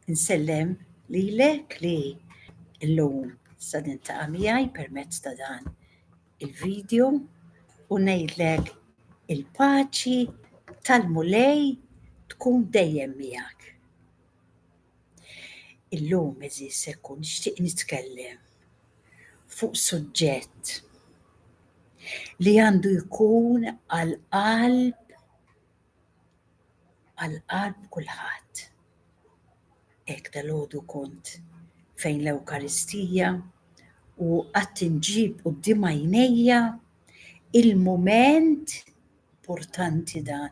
Insellem li lek li l-lum sa nintaqa miegħi permezz ta' dan il-video u ngħidlek il-paċi tal-mulej tkun dejjem miegħek. Illum eżis se kun nixtieq nitkellem fuq suġġett li għandu jkun għal qalb għal qalb kulħadd. Hekk dalgħodu kont fejn l-Ewkaristija u qatt inġib quddiem għajnejja il-mument importanti dan,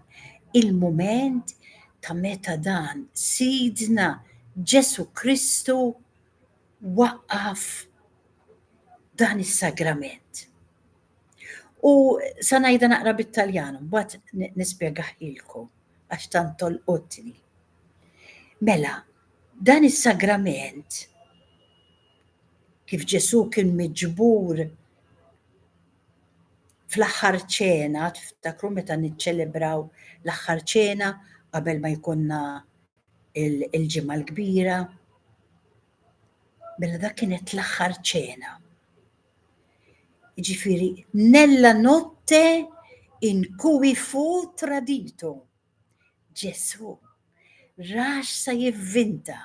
il-mument ta' meta dan Sidna Ġesu Kristu waqqaf dan is-sagrament. U sa ngħidha naqra bit-Taljan, mbagħad nispjegah ilkom għax tant tolqotni. Mela, dan is-sagrament kif Ġesu kien miġbur fl-aħħar ċena, tiftakru meta niċċelebraw l-aħħar ċena qabel ma jkunna il-ġimgħa l-kbira. Mela dak kienet l-aħħar ċena. Ġifiri, nella notte in cui fu tradito. Ġesu rax sa jivvinta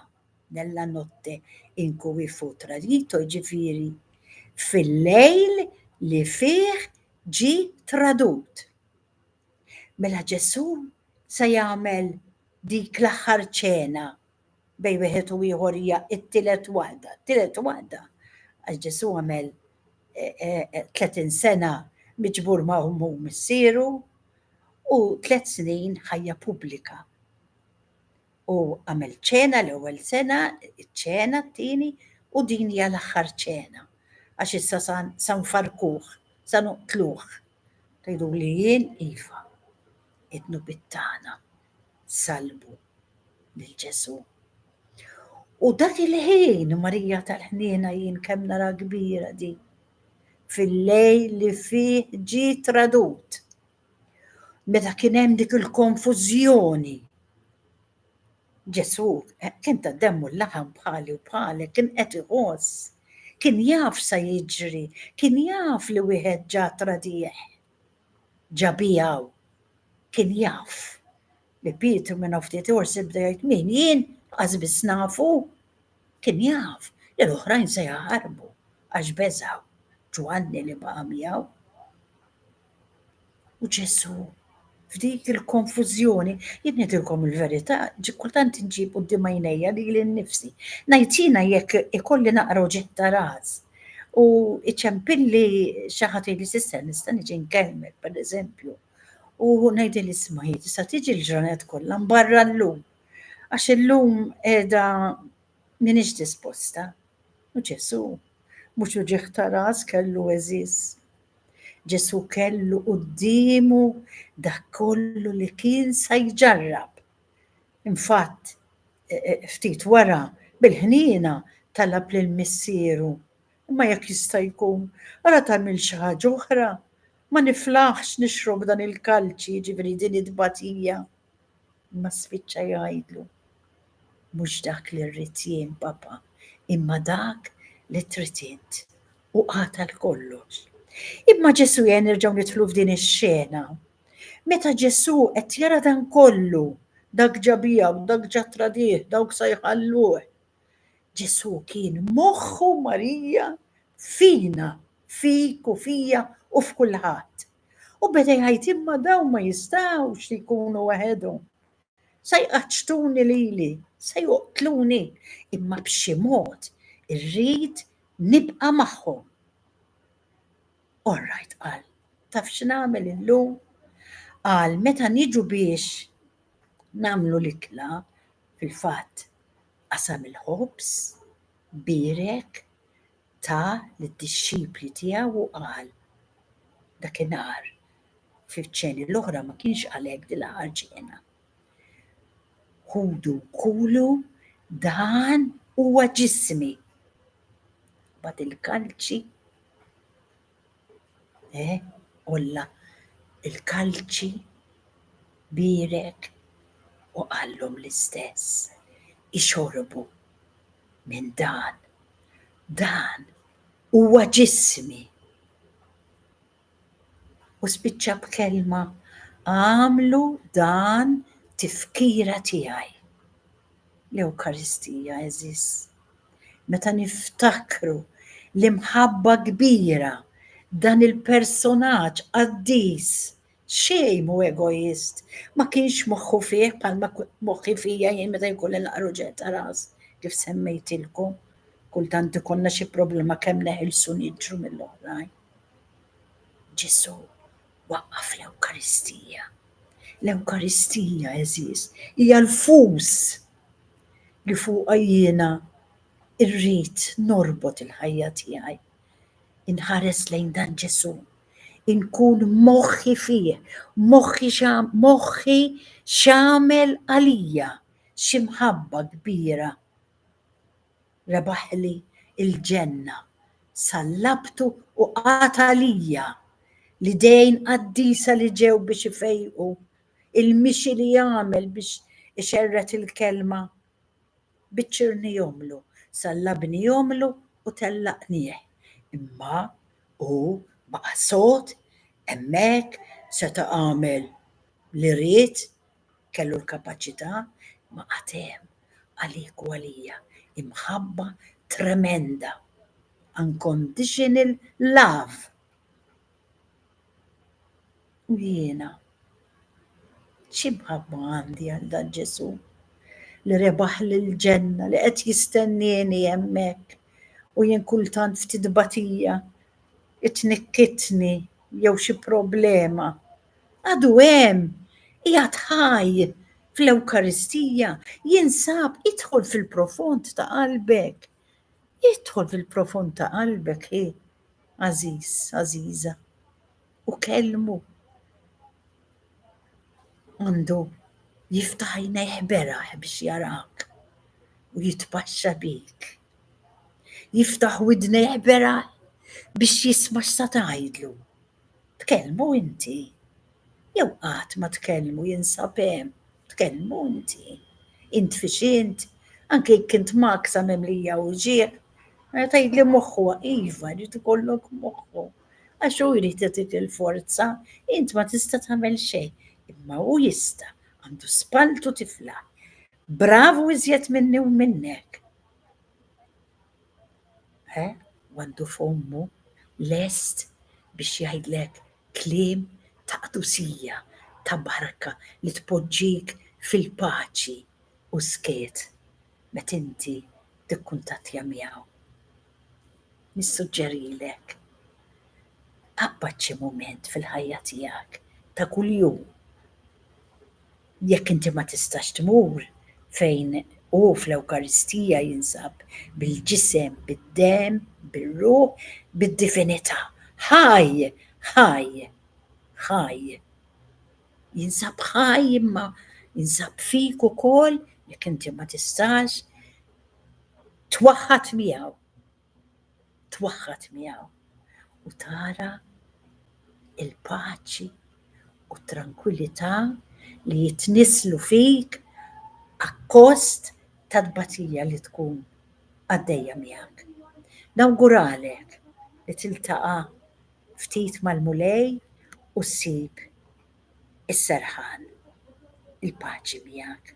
nella notte in cui fu tradito, ġifiri, fil-lejl li fih ġi tradut. Mela Ġesu sa jagħmel dik l-aħħar ċena bejn wieħed u ieħor hija t-tielet waħda, t-tielet waħda għax Ġesù għamel 30 sena miġbur ma' ummu missieru u tliet snin ħajja pubblika. U għamel ċena l-ewwel sena, ċena t-tieni u din hija l-aħħar ċena għax issa san farkuh, san uqtluh. Tgħidu li jien iva, id-nubittana. salbu lil Ġesù. U dak il-ħin Marija tal-ħniena jien kemm nara kbira di fil-lejl li fih ġi tradut. Meta kien hemm dik il-konfużjoni. Ġesù eh, kien ta' demmu l-laħam bħali u bħalek kien qed iħoss, kien jaf sa jiġri, kien jaf li wieħed ġa tradih. ġabih hawn. Kien jaf li Pietru minn hawn ftit ieħor se jibda jgħid min? Jien? Qas biss nafu! Kien jaf li l-oħrajn se jaħarbu għax beżgħu. Ġwanni li baqa' miegħu. U Ġesù F'dik il-konfużjoni, jien ngħidilkom il-verità, ġi kultant inġib quddiem għajnejja lili nnifsi. Ngħid jiena jekk ikolli naqra uġigħ ta' ras u iċempilli xi ħadd jgħidli s'issa nista' niġi nkellmek, pereżempju. U ngħidil isma' hi tista' tiġi l-ġranet kollha mbarra llum. Għax illum qiegħda m'iniex disposta. U Ġesu, mhux uġigħ ta' ras kellu eżiż. Ġesù kellu quddiemu dak kollu li kien sa jġarrab. Infatt, e, e, ftit wara, bil-ħniena talab lil Missieru, imma jekk jista' jkun, ara tagħmel xi ħaġa oħra, ma niflaħx nixrob dan il-kalċi, jiġifieri din it-tbatija. Imma spiċċa jgħidlu, Mhux dak li rrid jien, Papà, imma dak li trid int. U qatel kollox. Imma Ġesù jgħin nerġgħu nidħlu f'din ix-xena. Meta Ġesù qed jara dan kollu, dak ġa biegħu, dak ġa tradih, dawk sa jħalluh. Ġesù kien moħħu Marija fina, fik u fija u f'kulħadd. U beda jgħid imma dawn ma jistawx li jkunu waħedhom. Se jqaċtuni lili, se joqtluni, imma b'xi mod irrid nibqa' magħhom. Orrajt qal, taf x'nagħmel illum? Qal meta niġu biex nagħmlu l-itla fil-fatt qasam il-ħobż, birek, ta lid-dixxipli tiegħu u qal, Dakinhar, fil-ċeni l-oħra ma kienx qal hekk dil-aħħar ċena. Ħudu kulu dan huwa ġismi. Bad il-kalċi Eh, Olla il-kalċi bierek u qallhom l-istess. Ixorbu minn dan. Dan huwa ġismi. U spiċċa b'kelma għamlu dan tifkira tiegħi. L-Ewkaristija, għeżież, meta niftakru l-imħabba kbira dan il-personaġġ qaddis, xejn mhu egoist, ma kienx moħħu fih bħalma moħħi fija jien meta jkun l-aqar uġigħ ta' ras, kif semmejtilkom, kultant ikollna xi problema kemm neħilsu niġru mill-oħrajn. Ġesù waqqaf l-Ewkaristija. L-Ewkaristija, eżiż, hija l-fus li fuqha jiena rrid norbot il-ħajja tiegħi. Inħares lejn dan Ġesu, inkun moħħi fih, moħħi moħħi x'għamel għalija xi mħabba kbira. rebaħli l-ġenna, sallabtu u qata' lija l-idejn qaddisa li ġew biex ifejqu, il-mixi li għamel biex ixerred il-Kelma, biċċirnihomlu, sallabnihomlu u tellaqnih. Imma hu baqa' sod hemmhekk, seta' għamel li ried, Kellu l-kapaċità, imma għad hemm, għalik u għalija, imħabba tremenda, unconditional love. U jiena, x'imħabba għandi għal dan Ġesù li rebaħli l-ġenna li qed jistennieni hemmhekk u jien kultant ftit batija tnikkitni jew xi problema, għadu hemm, qiegħed ħaj fl-Ewkaristija, jinsab, idħol fil-profond ta' qalbek. Idħol fil-profond ta' qalbek, ħi, għażiż, għażiża. u kellmu. Għandu jiftaħ jnejħ beraħ biex jarak u jitpaxxa bik. Jiftaħ widnejħ beraħ biex jisma x'sa tgħidlu. Tkellmu inti. Jew qatt ma tkellmu jinsab hemm, tkellmu inti. Int fiex int, anke jekk int maksa memlija u ġieħ, meta jgħidli moħħu iva, ġiet ikollok moħħu. Għax hu jrid jagħtik il-forza, int ma tista' tagħmel xejn, imma hu jista' għandu spaltu tifla. Bravu iżjed minni u minnek. He, għandu fommu lest biex jgħidlek kliem ta' qdusija, ta' barka li tpoġġik fil-paċi u skiet met inti tikkuntattja miegħu. Nissuġġerilek tqabbad xi mument fil-ħajja tiegħek ta' kuljum. Jekk inti ma tistax tmur fejn hu fl-Ewkaristija jinsab bil-ġisem, bid-demm, bir-ruħ, bid-divinità. Ħaj! Ħaj! Ħaj! Jinsab ħaj imma jinsab fik ukoll jekk inti ma tistax twaħħad miegħu, twaħħad miegħu u tara il-paċi u t-trankwillità li jitnisslu fik akkost tat-tbatija li tkun għaddejja miegħek. Nawguralek li tiltaqa' ftit mal-Mulej u ssib is-serħan, il-paċi miegħek.